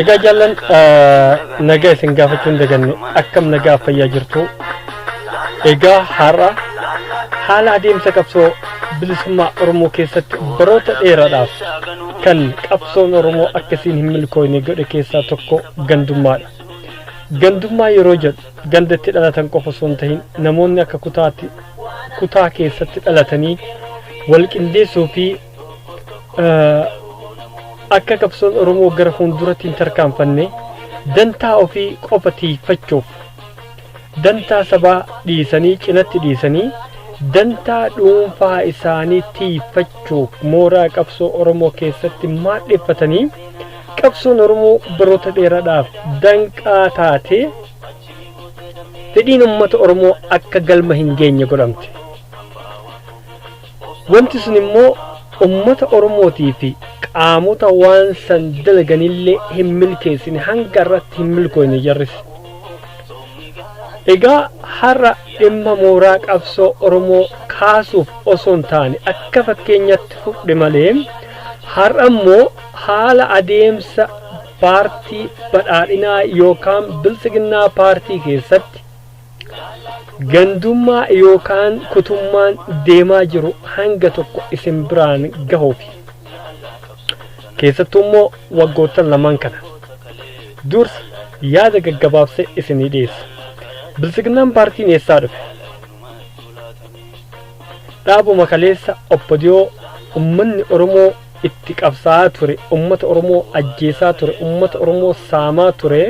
Egaa jaallan nagaa isin gaafachuu hin daganne akkam nagaa fayyaa jirtu egaa har'a haala adeemsa qabsoo bilisummaa Oromoo keessatti baroota dheeraadhaaf kan qabsoon Oromoo akkasiin hin milkooyne godhe keessaa tokko gandummaadha. Gandummaa yeroo jedhu ganda itti dhalatan qofa osoo hin tahin namoonni akka kutaatti kutaa keessatti dhalatanii wal qindeessuu fi akka qabsoon oromoo gara fuulduratti hin tarkaanfanne dantaa ofii qofa tiikfachuuf dantaa sabaa dhiisanii cinatti dhiisanii dantaa dhuunfaa isaanii tiikfachuuf mooraa qabsoo oromoo keessatti maadheffatanii qabsoon oromoo baroota dheeraadhaaf danqaa taatee fedhiin uummata oromoo akka galma hin geenye godhamte. Wanti sun immoo ummata Oromootii fi qaamota waan san dalaganillee hin milkeessine hanga irratti hin milkooyne jarris. Egaa har'a dhimma mooraa qabsoo Oromoo kaasuuf osoo hin taane akka fakkeenyatti fudhe malee har'a immoo haala adeemsa paartii badhaadhinaa yookaan biltsiginnaa paartii keessatti Gandummaa yookaan kutummaan deemaa jiru hanga tokko isin biraan gahuufi. Keessattuu immoo waggoottan lamaan kana. Dursa yaada gaggabaabsee isinii dhiyeessa. Biltsiginnaan paartiin eessaa dhufe? Dhaabuma kaleessa obbodiyoo ummanni Oromoo itti qabsaa'aa ture ummata oromoo ajjeesaa ture ummata oromoo saamaa ture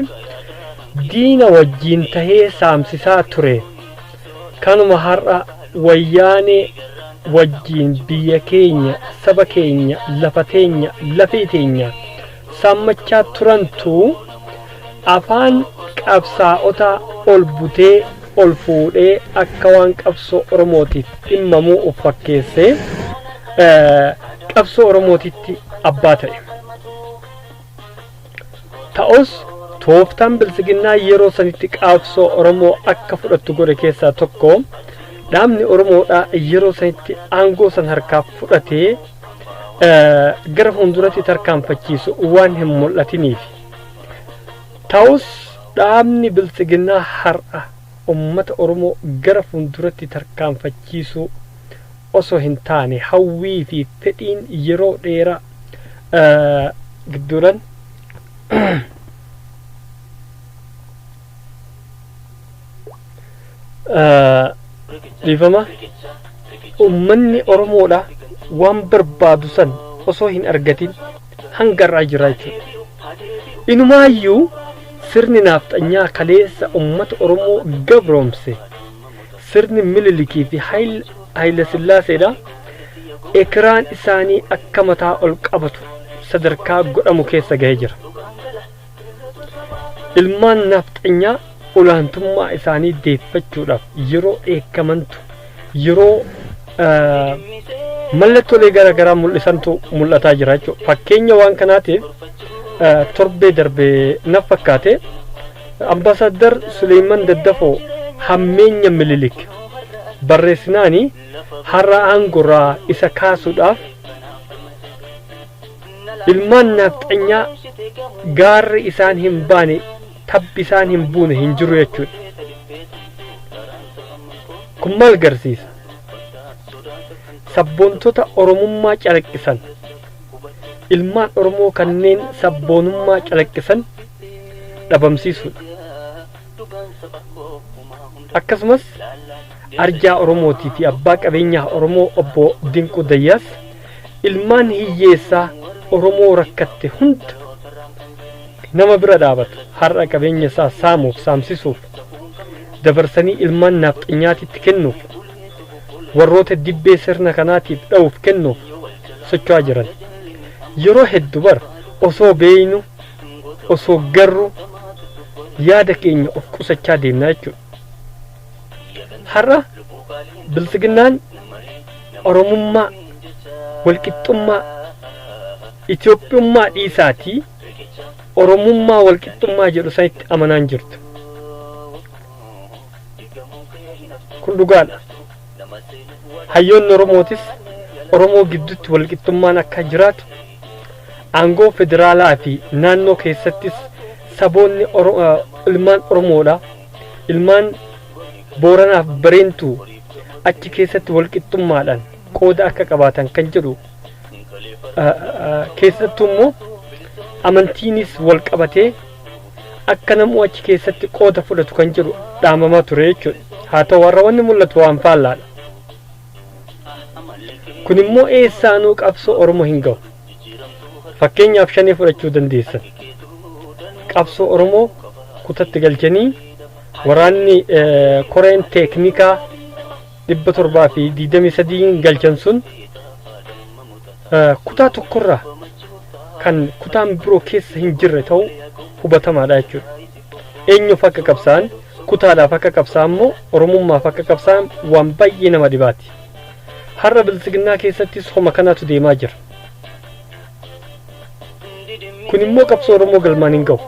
diina wajjiin tahee saamsisaa ture kanuma har'a wayyaanee wajjiin biyya keenya saba keenya lafa teenya lafee teenya saammachaa turantu afaan qabsaa'otaa ol butee ol fuudhee akka waan qabsoo Oromootiif dhimmamuu of fakkeessee qabsoo Oromootitti abbaa ta'e. Ta'us tooftaan bilsiginnaa yeroo sanitti qabsoo Oromoo akka fudhattu godhe keessaa tokko dhaabni Oromoodhaa yeroo sanitti aangoo san harkaa fudhatee gara fuulduratti tarkaanfachiisu waan hin mul'atiniif ta'us dhaabni bilxiginnaa har'a ummata oromoo gara fuulduratti tarkaanfachiisuu osoo hin taane hawwii fi fedhiin yeroo dheeraa gidduudhan dhiifama ummanni oromoodha waan barbaadu san osoo hin argatin hanga irraa jira jechuudha inumaayyuu sirni naafxanyaa kaleessa ummata oromoo gabroomse sirni mililikii fi hayila sillaaseedha ekiraan isaanii akka mataa ol qabatu sadarkaa godhamu keessa gahee jira Ilmaan naafxanyaa olaantummaa isaanii deeffachuudhaaf yeroo dheekkamantu yeroo mallattoolee gara garaa mul'isantu mul'ataa jira jechuudha. Fakkeenya waan kanaatiif torbee darbe naf fakkaate ambaasaddar Suleeyman Daddafoo hammeenya mililik barreessinaani har'a aangorraa isa kaasuudhaaf Ilmaan naafxanyaa gaarri isaan hin baane tabbi isaan hin buune hin jiru jechuudha. Kun maal garsiisa? Sabboontota Oromummaa calaqqisan ilmaan Oromoo kanneen sabboonummaa calaqqisan dhabamsiisuudha. Akkasumas arjaa Oromootii fi abbaa qabeenyaa Oromoo obbo Dinquu Dayyaas ilmaan hiyyeessaa Oromoo rakkatte hunda nama bira dhaabatu har'a qabeenya isaa saamuuf saamsisuuf dabarsanii ilmaan naafxanyaatitti kennuuf warroota dibbee sirna kanaatiif dha'uuf kennuuf socho'aa jiran yeroo heddu bar osoo beeynu osoo garru yaada keenya of qusachaa deemna jechuudha. Har'a bilxiginnaan Oromummaa, walqixxummaa, Itoophiyummaa dhiisaatii Oromummaa walqixxummaa jedhu sanitti amanaa hin jirtu. Kun dhugaadha. Hayyoonni Oromootis Oromoo gidduutti walqixxummaan akka jiraatu aangoo federaalaa fi naannoo keessattis saboonni Oro- eh, ilmaan Oromoodha. ilmaan Booranaaf Bareentuu achi keessatti walqixxummaadhaan qooda akka qabaatan kan jedhu keessattuu immoo amantiinis wal qabatee akka namuu achi keessatti qooda fudhatu kan jedhu dhaamamaa ture jechuudha. Haa ta'u warra wanni mul'atu waan faallaadha. Kun immoo eessaanuu qabsoo Oromoo hin gahu. Fakkeenyaaf shanee fudhachuu dandeessan. Qabsoo Oromoo kutatti galchanii waraanni koreen teeknikaa dhibba torbaa fi digdamii sadiin galchan sun kutaa tokkorraa kan kutaan biroo keessa hin jirre ta'uu hubatamaadha jechuudha. Eenyuuf akka qabsaa'an, kutaadhaaf akka qabsaa'an moo Oromummaaf akka qabsaa'an waan baay'ee nama dhibaati. Har'a Biltsiginnaa keessattis homa kanaatu deemaa jira. Kun immoo qabsoo Oromoo galmaan hin gahu.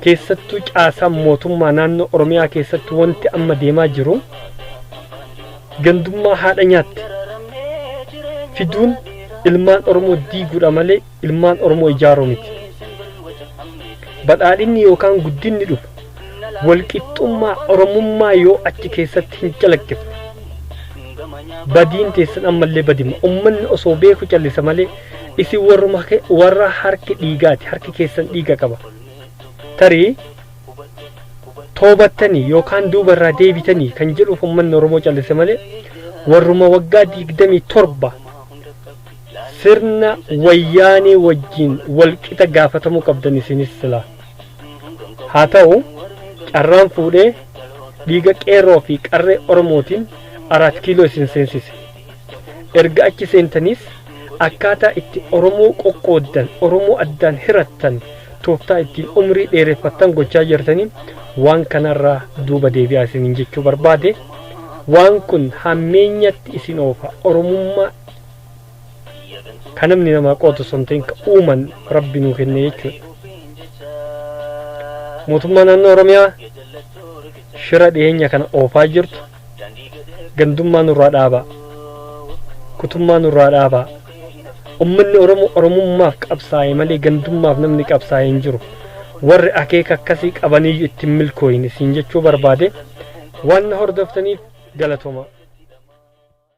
Keessattuu caasaan mootummaa naannoo Oromiyaa keessatti wanti amma deemaa jiru gandummaa haadha nyaatte fiduun ilmaan Oromoo diiguudha malee ilmaan Oromoo ijaaruu miti. Badhaadhinni yookaan guddinni dhufu walqixxummaa Oromummaa yoo achi keessatti hin calaqqifne. Badiin teessan ammallee badima. Ummanni osoo beeku callisa malee isin warruma ke- warra harki dhiigaati. Harki keessan dhiiga qaba. Tarii toobattanii yookaan duuba irraa deebitanii kan jedhuuf ummanni Oromoo callise malee warruma waggaa digdamii torba Sirna wayyaanee wajjin wal qixa gaafatamuu qabdan isinis silaa. Haa ta'u carraan fuudhee dhiiga qeerroo fi qarree Oromootiin Araat Kiiloo isin seensise. Erga achi seentaniis akkaataa itti Oromoo qoqqooddan, Oromoo addaan hirattan, tooftaa ittiin umrii dheereffattan gochaa jirtanii waan kanarraa duuba deebi'aa isiniin jechuu barbaade. Waan kun hammeenyatti isin oofa. Oromummaa kan namni namaa qootu osoo hin ta'in kan uuman rabbi nuu kenne jechuudha. Mootummaa naannoo Oromiyaa shira dhiyeenya kana oofaa jirtu gandummaa nurraa dhaabaa kutummaa nurraa dhaabaa ummanni Oromoo Oromummaaf qabsaa'e malee gandummaaf namni qabsaa'e hin jiru warri akeeka akkasii qabaniyyuu ittiin milkooyin isin jechuu barbaade waan na hordoftaniif galatomaa.